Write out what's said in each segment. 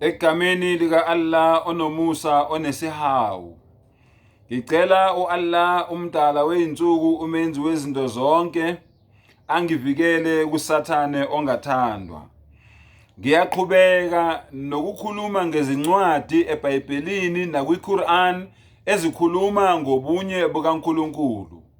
Egameni lika Allah onomusa onesihawu ngicela u Allah umdala weinsuku umenzi wezinto zonke angivikele kusathane ongathandwa ngiyaqhubeka nokukhuluma ngezincwadi eBhayibhelini nakwiQuran ezikhuluma ngobunye bukaNkulunkulu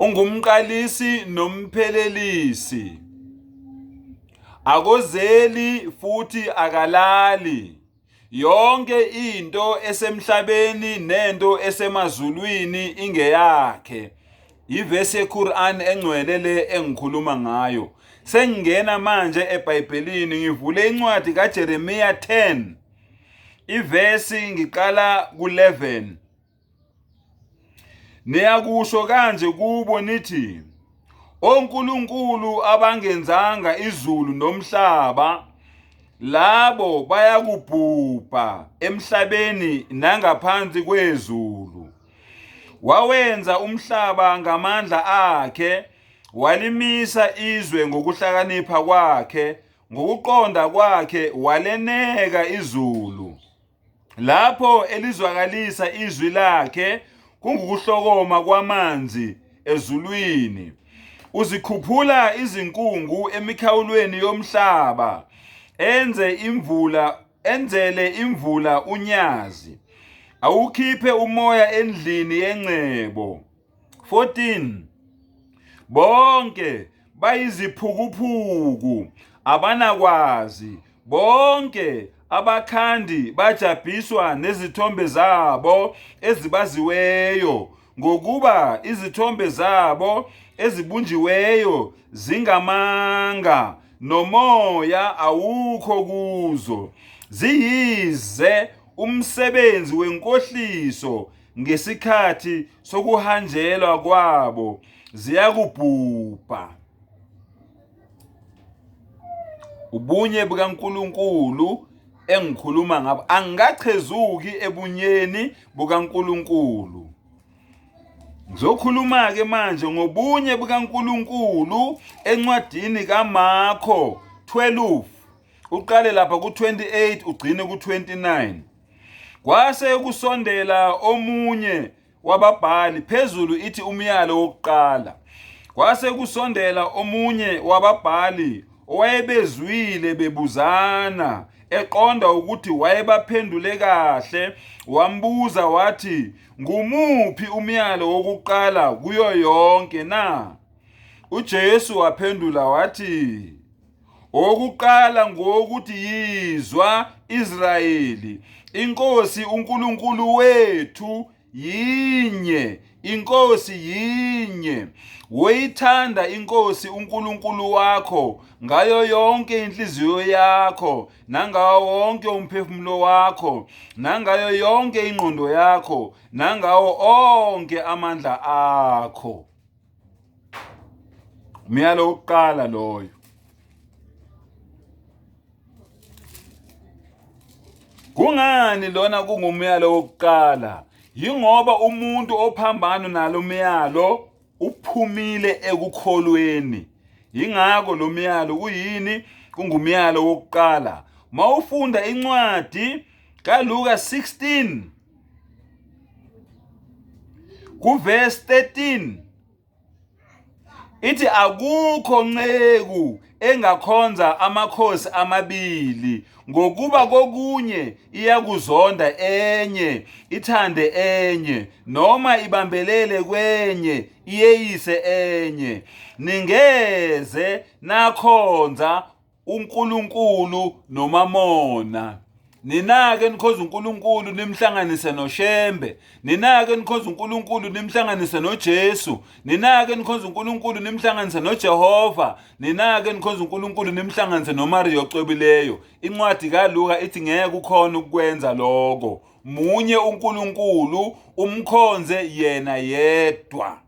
Ungumqalisi nomphelelisi, akozeli futhi akalali. Yonke into esemhlabeni nento esemazulwini ingeyakhe. Ivesi yeQuran engcwele le engikhuluma ngayo. Sengingena manje eBhayibhelini ngivule incwadi kaJeremiya 10 ivesi ngiqala ku-11. Niyakusho kanje kubo nithi, onkulunkulu abangenzanga izulu nomhlaba labo bayakubhubha emhlabeni nangaphansi kwezulu. Wawenza umhlaba ngamandla akhe, walimisa izwe ngokuhlakanipha kwakhe, ngokuqonda kwakhe waleneka izulu. Lapho elizwakalisa izwi lakhe kungukuhlokoma kwamanzi ezulwini. Uzikhuphula izinkungu emikhawulweni yomhlaba, enze imvula enzele imvula unyazi. Awukhiphe umoya endlini yengcebo. 14 bonke bayiziphukuphuku abanakwazi bonke abakhandi bajabhiswa nezithombe zabo ezibaziweyo ngokuba izithombe zabo ezibunjiweyo zingamanga nomoya awukho kuzo ziyize umsebenzi wenkohliso ngesikhathi sokuhanjelwa kwabo ziyakubhubha ubunye bukaNkuluNkulu engikhuluma ngabo angikachezuki ebunyeni bukaNkuluNkulu Ngizokhuluma ke manje ngobunye bukaNkuluNkulu encwadini kaMakho 12 uqale lapha ku28 ugcine ku29 Kwase kusondela omunye wababhali phezulu ithi umyalo wokuqala. Kwase kusondela omunye wababhali owayebezwile bebuzana eqonda ukuthi wayebaphendule kahle wambuza wathi ngumuphi umyalo wokuqala kuyo yonke na? UJesu waphendula wathi Owokuqala ngowokuthi yizwa Israyeli, inkosi uNkulunkulu wethu yinye, inkosi yinye. Woyithanda inkosi uNkulunkulu wakho ngayo yonke inhliziyo yakho, nangawo wonke umphefumulo wakho, nangayo yonke ingqondo yakho, nangawo onke amandla akho. myalo wokuqala loyo kungani lona kungumyalo wokuqala yingoba umuntu ophambano nalo myalo uphumile ekukholweni yingakho lo myalo kuyini kungumyalo wokuqala mawufunda incwadi kaLuka 16 kuverse 13 ithi akukho nceku engakhonza amakhosi amabili ngokuba kokunye iyakuzonda enye ithande enye noma ibambelele kwenye iyeyise enye ningeze nakhonza uNkulunkulu nomamona ninake nikhonza uNkulunkulu nimhlanganise noShembe ninake nikhonza uNkulunkulu nimhlanganise noJesu ninake nikhonza uNkulunkulu nimhlanganise noJehova ninake nikhonza uNkulunkulu nimhlanganise noMariya ocwebileyo incwadi kaLuka ithi ngeke ukhona ukwenza lokho munye uNkulunkulu umkhonze yena yedwa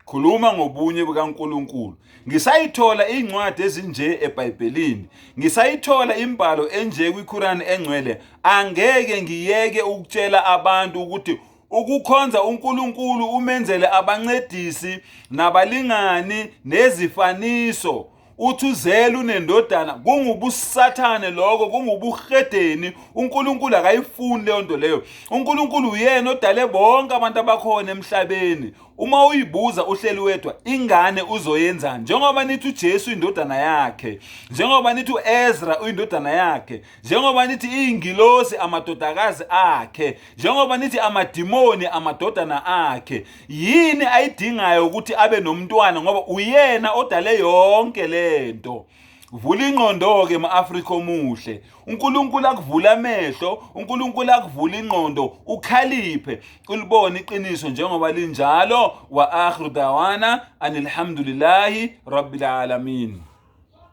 Khuluma ngobunye bukaNkulunkulu. Ngisayithola iy'ncwadi ezinje eBhayibhelini. Ngisayithola imbhalo enje kwiKhurani engcwele. Angeke ngiyeke ukutshela abantu ukuthi ukukhonza uNkulunkulu umenzele abancedisi nabalingani nezifaniso. uthi uzele unendodana kungubusathane lokho kungubuhedeni uNkulunkulu akayifuni leyo nto leyo uNkulunkulu uyena odale bonke abantu abakhona emhlabeni uma uyibuza uhleli wedwa ingane uzoyenzani njengoba nithi uJesu indodana yakhe njengoba nithi uEzra uyindodana yakhe njengoba nithi iy'ngilosi amadodakazi akhe njengoba nithi amadimoni amadodana akhe yini ayidingayo ukuthi abe nomntwana ngoba uyena odale yonke le nto vula ingqondo-ke ma-afrika omuhle unkulunkulu akuvula amehlo unkulunkulu akuvula ingqondo ukhaliphe ulibone iqiniso njengoba linjalo wa akhiru dawana anilhamdulilahi rabbilalamin